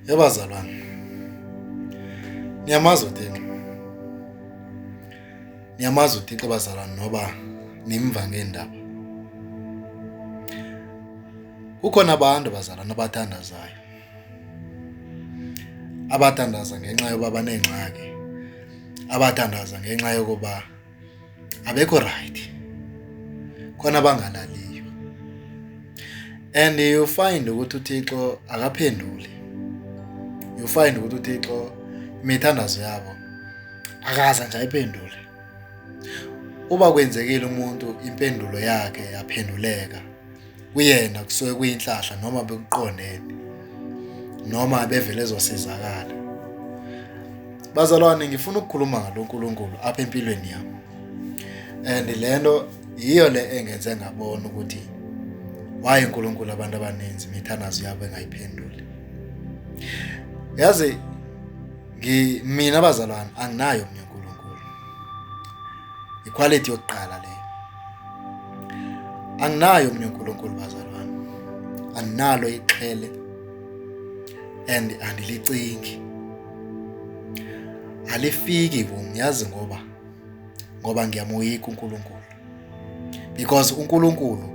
Yabazalwane. Niyamazi uTixo. Niyamazi uTixo bazalwane noba nimva ngeendaba. Kukhona abantu bazalwane abathandazayo. Abathandaza ngenxa yoba baneengxaki. Abathandaza ngenxa yokuba abekho right khona abangalaliyo and you find ukuthi uThixo akaphenduli you find ukuthi uThixo imithandazo yabo akaza nje ayiphendule uba kwenzekile umuntu impendulo yakhe yaphenduleka kuyena kusuke kuyinhlahla noma bekuqondene noma bevele ezosizakala bazalwane ngifuna ukukhuluma ngalo nkulunkulu apha empilweni yami and le nto yiyo le engenze ngabona ukuthi waye unkulunkulu abantu abaninzi imithanazo yabo engayiphenduli yazi mina bazalwane anginayo mina unkulunkulu ikhwalithi yokuqala leyo anginayo mina uNkulunkulu bazalwane anginalo ixhele and andilicingi alifiki kum yazi ngoba ngoba ngiyamoyika uNkulunkulu because uNkulunkulu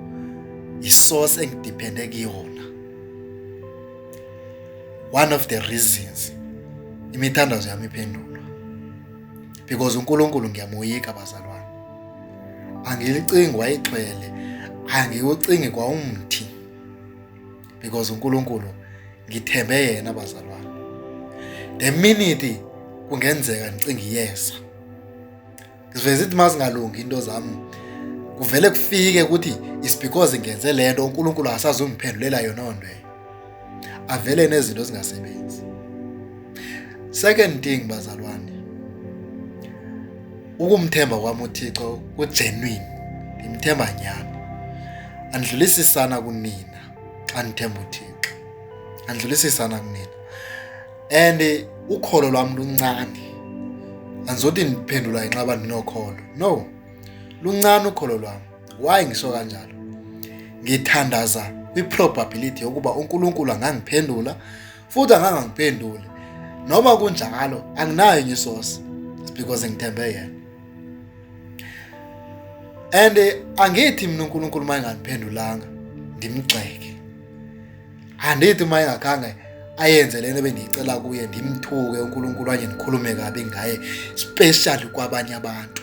isource engidepende kuyona one of the reasons imithandazo yami iphendulwa because uNkulunkulu ngiyamoyika bazalwane angilicingi wayixhwele angiwucingi kwawumthi because uNkulunkulu ngithembe yena bazalwane the minute kungenzeka ngicinga iyesa ngiveze ithi mazingalungi into zami kuvele kufike ukuthi is because ngenze lento uNkulunkulu akasazungiphendulela yona onto avele nezinto ezingasebenzi second thing bazalwane ukumthemba kwami uthixo kugenuine ngimthemba nyani andlulisisana kunina xa ndithemba uthixo andlulisisana kunina and ukholo lwami luncane andizothi ndiphendula inxaba ndinokholo no luncane ukholo lwami Why ngisho kanjalo? Ngithandaza kwi-probability yokuba uNkulunkulu angangiphendula futhi angangangiphenduli. Noma kunjalo anginayo enye isource because ngithembe yena. And eh, angithi mina uNkulunkulu uma engangiphendulanga ndimgxeke. Andithi uma engakhange ayenze lento bendiyicela kuye ndimthuke uNkulunkulu anye ndikhulume kabi ngaye especially kwabanye abantu.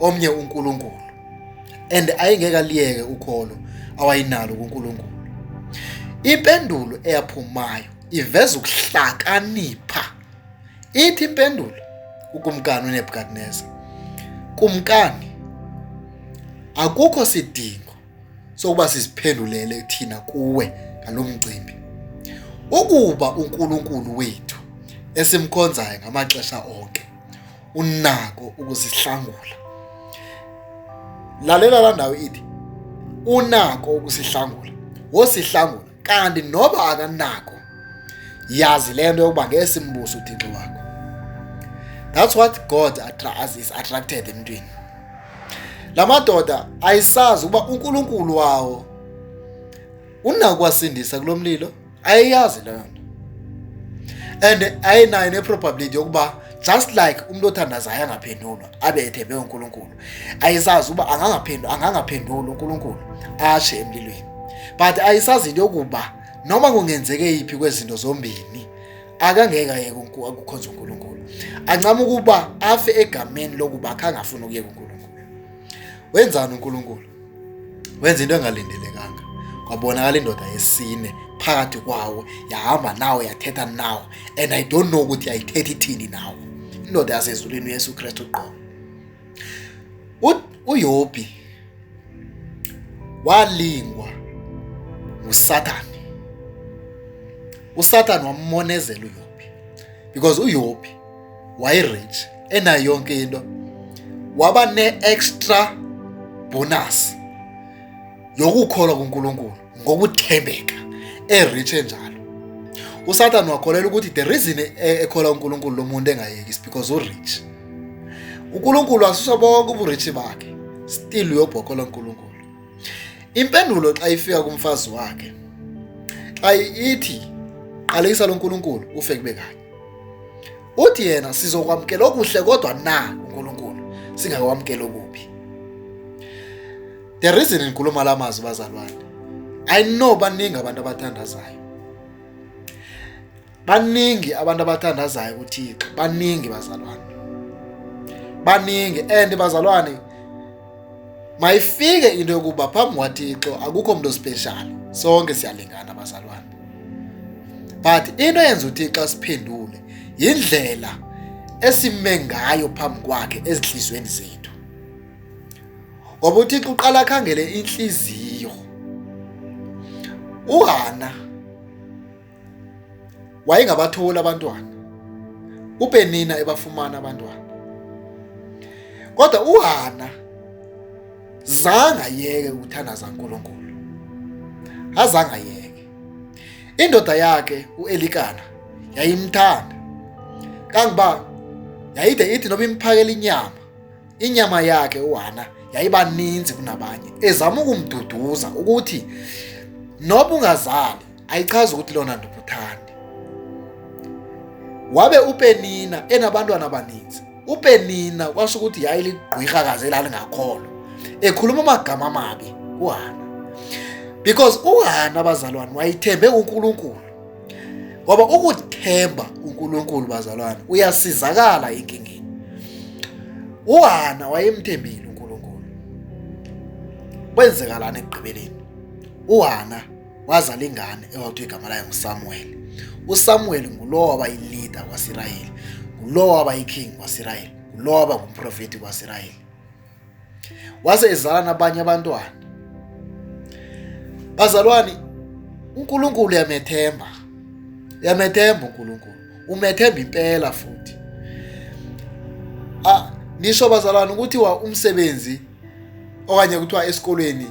omnye uNkulunkulu and ayengeke aliyeke ukholo awayinalo kuNkulunkulu impendulo eyaphumayo iveza ukuhlakanipha ithi impendulo ukumkani uNebukadnezar kumkani akukho sidingo sokuba siziphendulele thina kuwe ngalomcimbi ukuba uNkulunkulu wethu esimkhonzayo ngamaxesha onke unako ukuzihlangula lalela la ndawo ithi unako ukusihlangula wosihlangula kanti noba akanako yazi le nto yokuba ngeke simbuso uthixo wakho that's what god is attracted emntwini la madoda ayisazi ukuba unkulunkulu wawo unakwasindisa kulo mlilo ayiyazi leyo nto and ayinayo neprobability yokuba just like umuntu othandazayo angaphendulwa abe ethembe uNkulunkulu ayisazi uba angangaphendula angangaphendula uNkulunkulu ashe emlilweni but ayisazi into yokuba noma kungenzeke yiphi kwezinto zombini akangeke ayeke ukukhonza uNkulunkulu ancama ukuba afe egameni lokuba khangafuna ukuyeka uNkulunkulu wenzani uNkulunkulu wenza into engalindelekanga kwabonakala indoda yesine phakathi kwawo yahamba nawo yathetha nawo and i don't know ukuthi yayithetha ithini nawo indoda yasezulwini uyesu kristu qo uyobi walingwa ngusathane usathane wammonezela uyobi because uyobi wayerich enayo yonke into waba ne-extra bonus yokukholwa kuNkulunkulu ngokuthembeka erich enjalo uSathane wakholelwa ukuthi the reason e-, ekholwa uNkulunkulu lo muntu engayeki is because urich uNkulunkulu asuse bonke uburich bakhe still uyobhokola uNkulunkulu impendulo xa ifika kumfazi wakhe xa ithi qalekisa lo nkulunkulu ufe kube kanye uthi yena sizokwamukela okuhle kodwa na uNkulunkulu singakwamukela okubi the reason ngikhuluma la mazwi bazalwane i know baningi abantu abathandazayo baningi abantu abathandazayo kuthixo baningi bazalwane baningi and bazalwane mayifike into yokuba phambi kwathixo akukho mntu special sonke siyalingana bazalwane but into eyenza uThixo siphendule yindlela esime ngayo phambi kwakhe ezinhlizweni zethu ngoba uThixo uqala akhangele inhliziyo uHana wayengabatholi abantwana uPenina ebafumana abantwana kodwa uHana zange ayeke ukuthandaza uNkulunkulu azange ayeke indoda yakhe uElikana yayimthanda kangiba yayide ithi noba imphakela inyama inyama yakhe uHana yayibaninzi kunabanye ezama ukumduduza ukuthi noba ungazali ayichazi ukuthi lona ndobuthandi wabe upenina enabantwana abaninzi upenina kwasho ukuthi yayiligqwirha kaze elalingakholwa ekhuluma amagama amabi kuhana because uhana abazalwane wayithembe unkulunkulu ngoba ukuthemba unkulunkulu bazalwane uyasizakala enkingeni uhana wayemthembile unkulunkulu kwenzekalani ekugqibeleni uhana wazala ingane ewakuthiwa igama layo ngusamuweli usamuweli ngulowo waba yilida kwasirayeli ngulowo waba yiking kwasirayeli ngulowo waba ngumprofethi kwasirayeli wase ezala nabanye abantwana bazalwane unkulunkulu yamethemba yamethemba unkulunkulu umethemba impela futhi ah nisho bazalwane ukuthi wa umsebenzi okanye kuthiwa esikolweni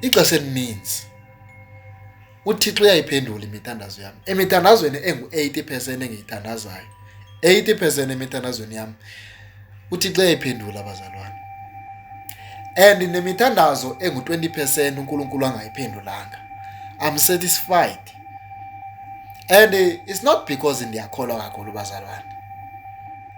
ixesha elininzi uthixo uyayiphendula imithandazo yam emithandazweni engu-80 percent engiyithandazayo 80 percent emithandazweni yam uthixo uyayiphendula abazalwane and nemithandazo engu-20 percent unkulunkulu angayiphendulanga i'm satisfied and it's not because ndiyakholwa kakhulu bazalwane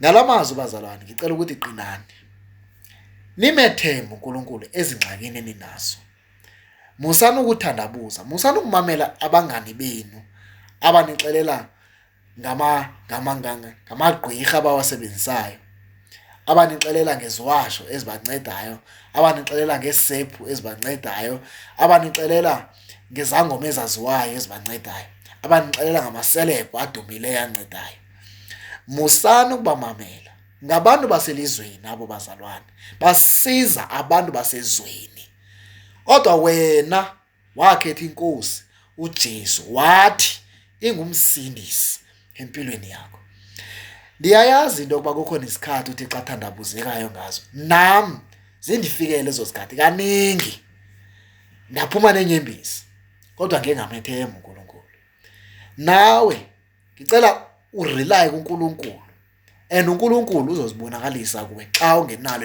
ngalamazwi bazalwane ngicela ukuthi qinani nimethembe uNkulunkulu ezingxakini eninazo musani ukuthandabuza musani ukumamela abangani benu abanixelela ngama ngama ngamagqwirha abawasebenzisayo abanixelela ngeziwasho ezibancedayo abanixelela ngesephu ezibancedayo abanixelela ngezangoma ezaziwayo ezibancedayo abanixelela ngamaselebhu adumileyo ancedayo musani ukubamamela ngabantu baselizweni abo bazalwane basiza abantu basezweni kodwa wena wakhetha inkosi uJesu wathi ingumsindisi empilweni yakho ndiyayazi into yokuba kukhona isikhathi uthi xa thandabuzekayo ngazo nam zindifikele ezo zikhathi kaningi ndaphuma nenyembezi kodwa ngingamethembi uNkulunkulu nawe ngicela urely kuNkulunkulu and uNkulunkulu uzozibonakalisa kuwe xa ungenalo